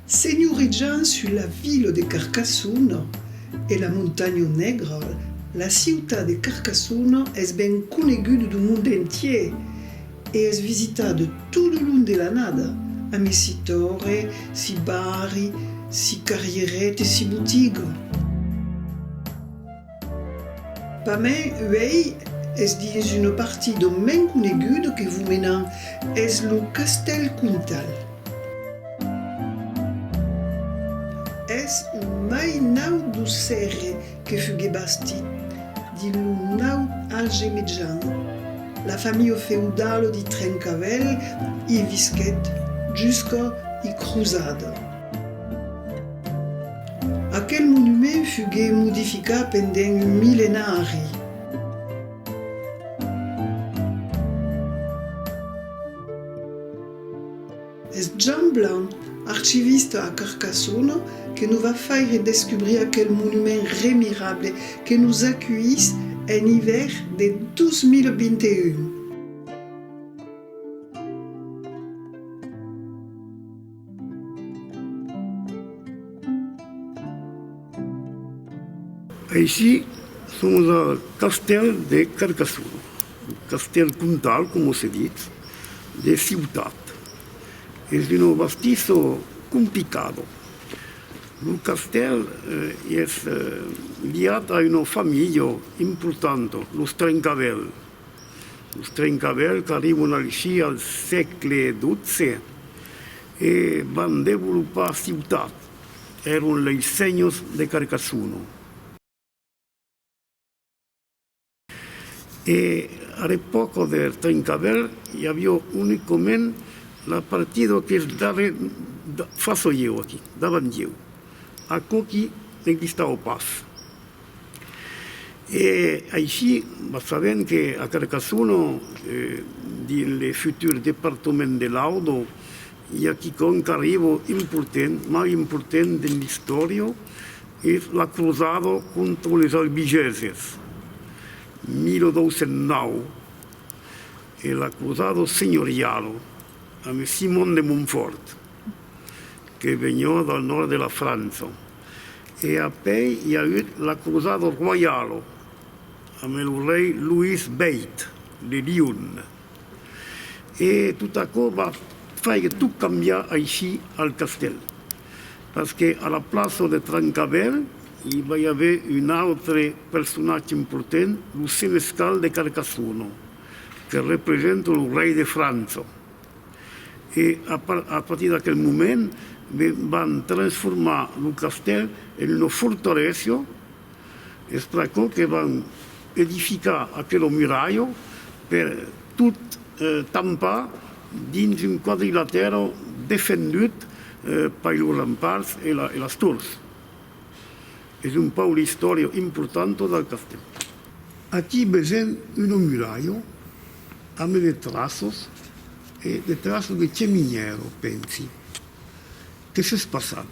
Senhorejant sus la vila de Carcassona e la Montanha Negra, la ciutat de Carcassona es ben conegut du monde entier E es visitade tot lo long de l'annada, a mes si torre, si barri, si carrierèt e si botiga. Pa me, uèi es dins una parti d'on m'en coneguda que vos menan, es lo castèl Comtal. Es un mai naut d'Auxerre que fugué bastit dins lo naut age mejan, la familha feudala de Trencavèl i visquèt jusca i crusada. Aquel monument fugué modificat pendent un millenari. Es Jean Blanc, archivista a Carcassona, que nos va faire descubrir aquel monument remirable que nos acuís en ivèr de 2021. Aicí somos al castèl de Carcassona. Castèl comtal, coma se ditz, de ciutat. Es un bastisso complicado. Lo castèl es liat a una familha importanta, los Trencavèl. Los Trencavèl qu'arribon aicí al sègle xii e van devolopar ciutat. Èron lei senhors de Carcassona. E ar epòca der Trencavèl i avió unicament la partida qu'es darrer façò ieu aquí, davant ieu, aquò qui n'existava pas. E aicí va sabent que a Carcassona, dins le futur departament de l'Audo, i a quicòm qu'arriva important, mai important dins l'istòria, Es la crosada contra les Albigeses, 1209, e la crosada senhoriala amb Simon de Montfòrt, que veniá del nòrd de la França, e après i a agut la crosada roiala amb lo rei Louis vii de Lyon. E tot aquò va faire tot cambiar aicí al castèl. Parce que a la plaça de Trancavèl i vai aver un autre personatge important, lo senescal de Carcassona, que representa lo rei de França. E a partir d'aquel moment, van transformar lo castèl en una fortalesa, Es pr'aquò que van edificar aquelo muralho per tot tampar dins un quadrilatèro defendut per los ramparts e las tors. Es un pauc l'istòria importanta del castèl. Aquí vesèm una muralha amb de traços e de traços de cheminièra, pensi, que s'es passat.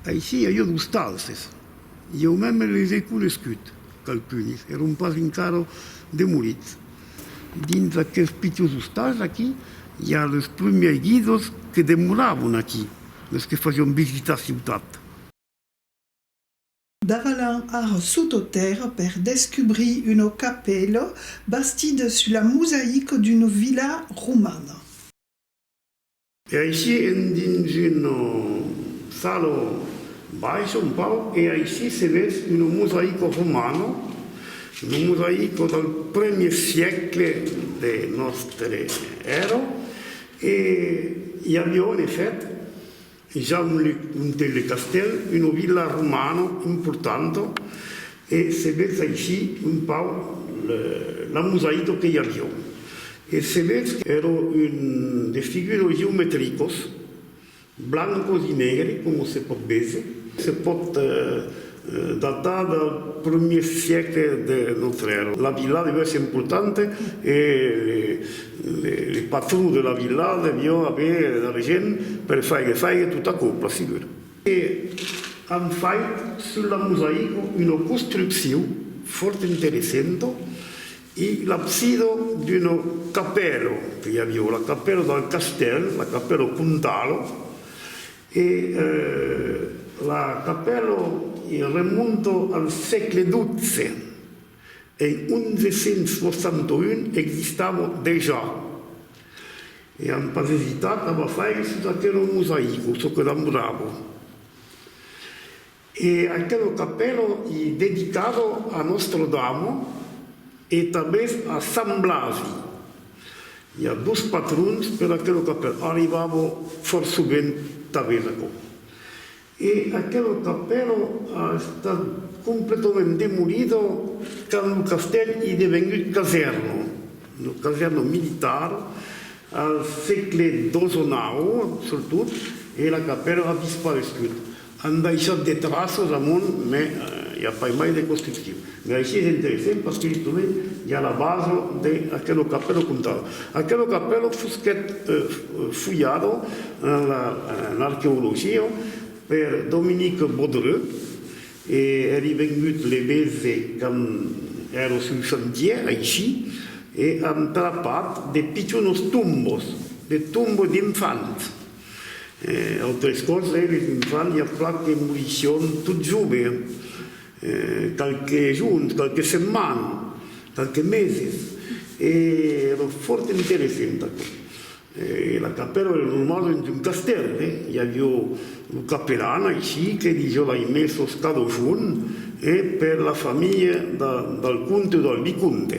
Aicí a jo dos talses. Jo mème les ai conescut, qualqu'unes, èron pas encara demolits. Dins aquels pichons ostals aquí, i a los prumèrs guidos que demoravan aquí, los que fasián visitar ciutat. Davalan ar sototèrr per descubrir una capèla bastida sul la mosaic d'una vila romana. E aicí endins un salon bais ont pau e aicí se ves un mosaico romano, un mosaico del premier siècle de nòstre èrò e i avió en efèct ja un le castèl, una vila romana importanta E se vetz aicí un pauc la mosaico que i a Riu. E se vetz qu'èra un de figures geometricos, blancos i negres, coma se pòt véser, se pòt datar del primièr siècle de nòstra èra. La vila deviá èsser importanta e le patró de la vila deviá aver d'argent per faire fèire tota còpla, segur. E an fait sul la mosaico una construcciu fòrt interessenta, e l'absida d'una capèla que i aviá, la capèla del castèl, la capèla comtala, e la capèla remonta al sègle xii. En 1161 existava dejà e an pas esitat a bafaire sus aquelo mosaico, çò que demorava. E aquelo capèlo ei dedicado a Nòstra Dama e tanbés a Sant Blasi. I a dos patrons per aquelo capèlo, arribava fòrt sovent tanben aquò. E aquela capèla a estat completament demolida quand lo castèl i devengut casèrna, una casèrna militar al sègle xii-xix surtot, e la capèla a disparescut. An daissat de traças amunt, mai i a pas mai de construccion. E aicí es interessent parce que justament i a la basa de aquelo capello comtal. Aquelo capello fusquèt fulhado en arqueologia per Dominique Bodreux e èri vengut levese quand èra sul chantier aicí e an trapat de pichonos tombos, de tombos d'infants. Autres còrps, eh, les infants i a plan que morisión tot joves. qualques jorns, qualques setmanes, qualques meses e èra fòrt interessent aquò. La capèla èra normala dins un castèl, i aviá lo capelan aicí que disiá lai mai sos cadochons per la familha del comte o del vicomte.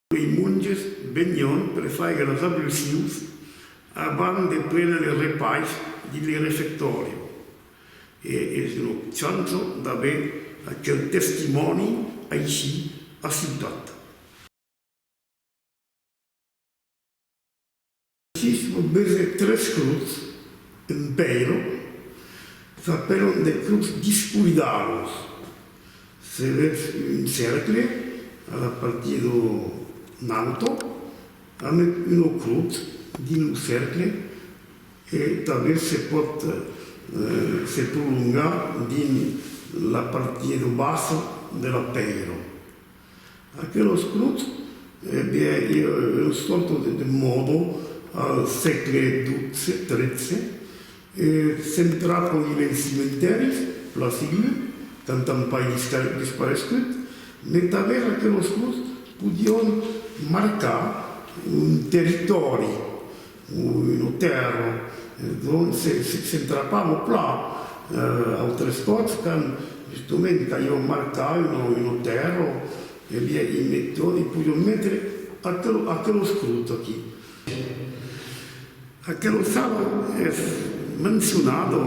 Lei monges venion per faigue los ablucius abans de prene le repais dins le refectòri e es una chança d'aver aquel testimòni aicí a Ciutat. Sis lo bese tres cruts, un pèiro, s'apèlan de cruts dispuidaus. Se vètz un cercle a la partir d'o nauto, amet uno crut dins lo cercle e tanben se pòt se prolongar dins la partir d'o bas de la pèiro. Aquelos clubs devián ir eus contos de Demòdo al sègle xii-xiii e centrar lo nivèl cimentèris, plan civil, qu'antan pas disparescut, mai tanben aquelos clubs podián marcar un territòri. Lo tèrra, donc, s'entrapa lo plat. Autres còps, quand justement calhó marcar una tèrra, e bien, i meton, i podion metre aquel oscrut aquí. Aquela sala es mencionada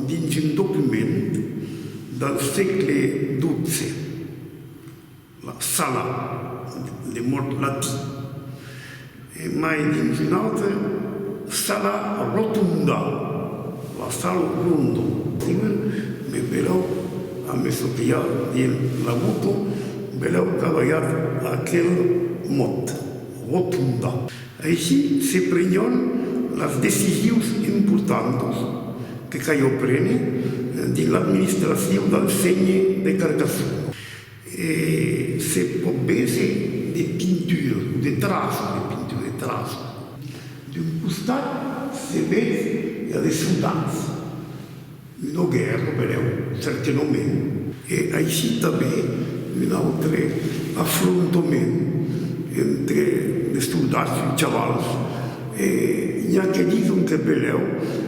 dins un document del sègle xii. La sala de mòrt latí e mai dins una autra sala rotonda, la sal rondo. Ieu me velèu a me sopiar dins la boca, velèu cavalhat aquel mot, rotonda. Aicí se prenion las decisius importantas que calhó prene dins l'administracion del ségne de Carcassona. E se pòt véser de pintura o de traços de pintura e traços. D'un costat se vètz la descendance, un auger lo velèu certainament. E aicí tanben un autre afrontament entre de soldats e chavals. E i a que dison que Belèu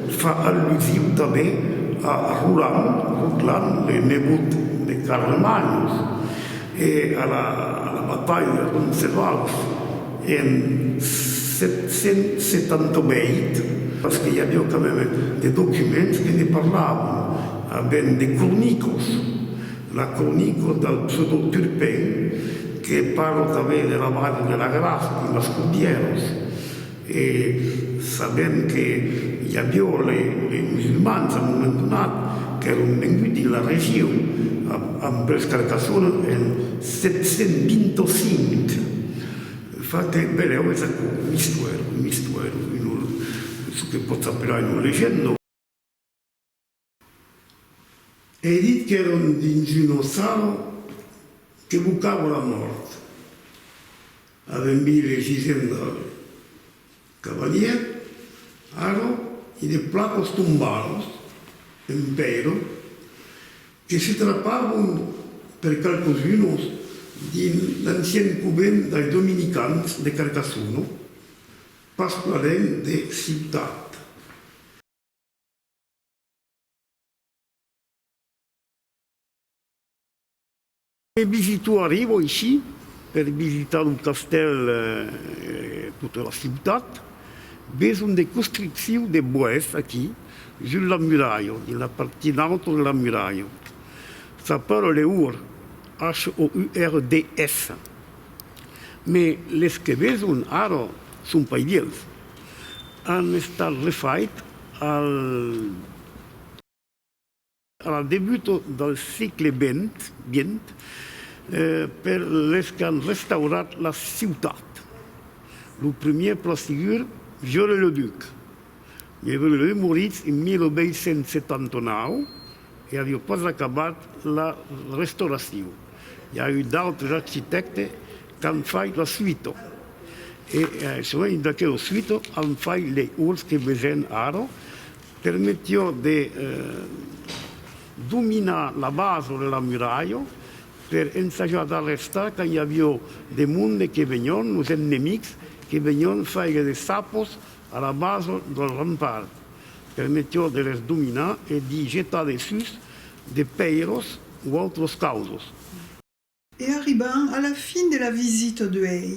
fa allusion tanben a Roland, Rotlan, le nebot de Carlemanyos, e a la batalha de Roncesvalç en 778, parce que i aviá quand meme de documents que ne parlavan, a ben de cronicos. La cronica del pseudo Turpin que parla tanben de la base de la graf amb las cordièras e sabèm que i avió les musulmans a moment donat qu'èron venguts dins la region amb pels Carcassona en 725 fa que velèu es aquò un istuèr un istuèr çò que pòtz apelar una legenda. Ei dit qu'èron dins un ossal que bocava la mòrt. Avèm vist le gisent del cavalièr, Aro, e de placos tombalos, Empèiro, que se trapavon per qualques unos dins l'ancien covent dei dominicans de Carcassona, pas plan lènh de Ciutat. E visito arrivo aicí per visitar lo castèl e tota la ciutat. Ves un de construcciu de boès aquí sus la muralha, dins la partir nauta de la muralha. S'apèla le Hourd, H-O-U-R-D-S. Mai les que veson ara son pas vièlhs. An estat refait Al debut del sègle xx, per les qu'an restaurat la ciutat, lo premier plastigur Viollet-le-Duc, Viollet-le-Duc morís en 1879, E avió pas acabat la restauracion. I a eu d'autres architèctes qu'an fait la suita. E sovent d'aquela suita an fait lei uòls que vesèm ara. Permetió de dominar la basa de la muralha per ensajar d'arrestar quand i avió de monde que venión, los ennemics, que venión faire de sapos A la basa del rempart, per meteor de les dominar e d'i jetar dessús de pèiros o autros causos. E arriban a la fin de la visita d'uèi.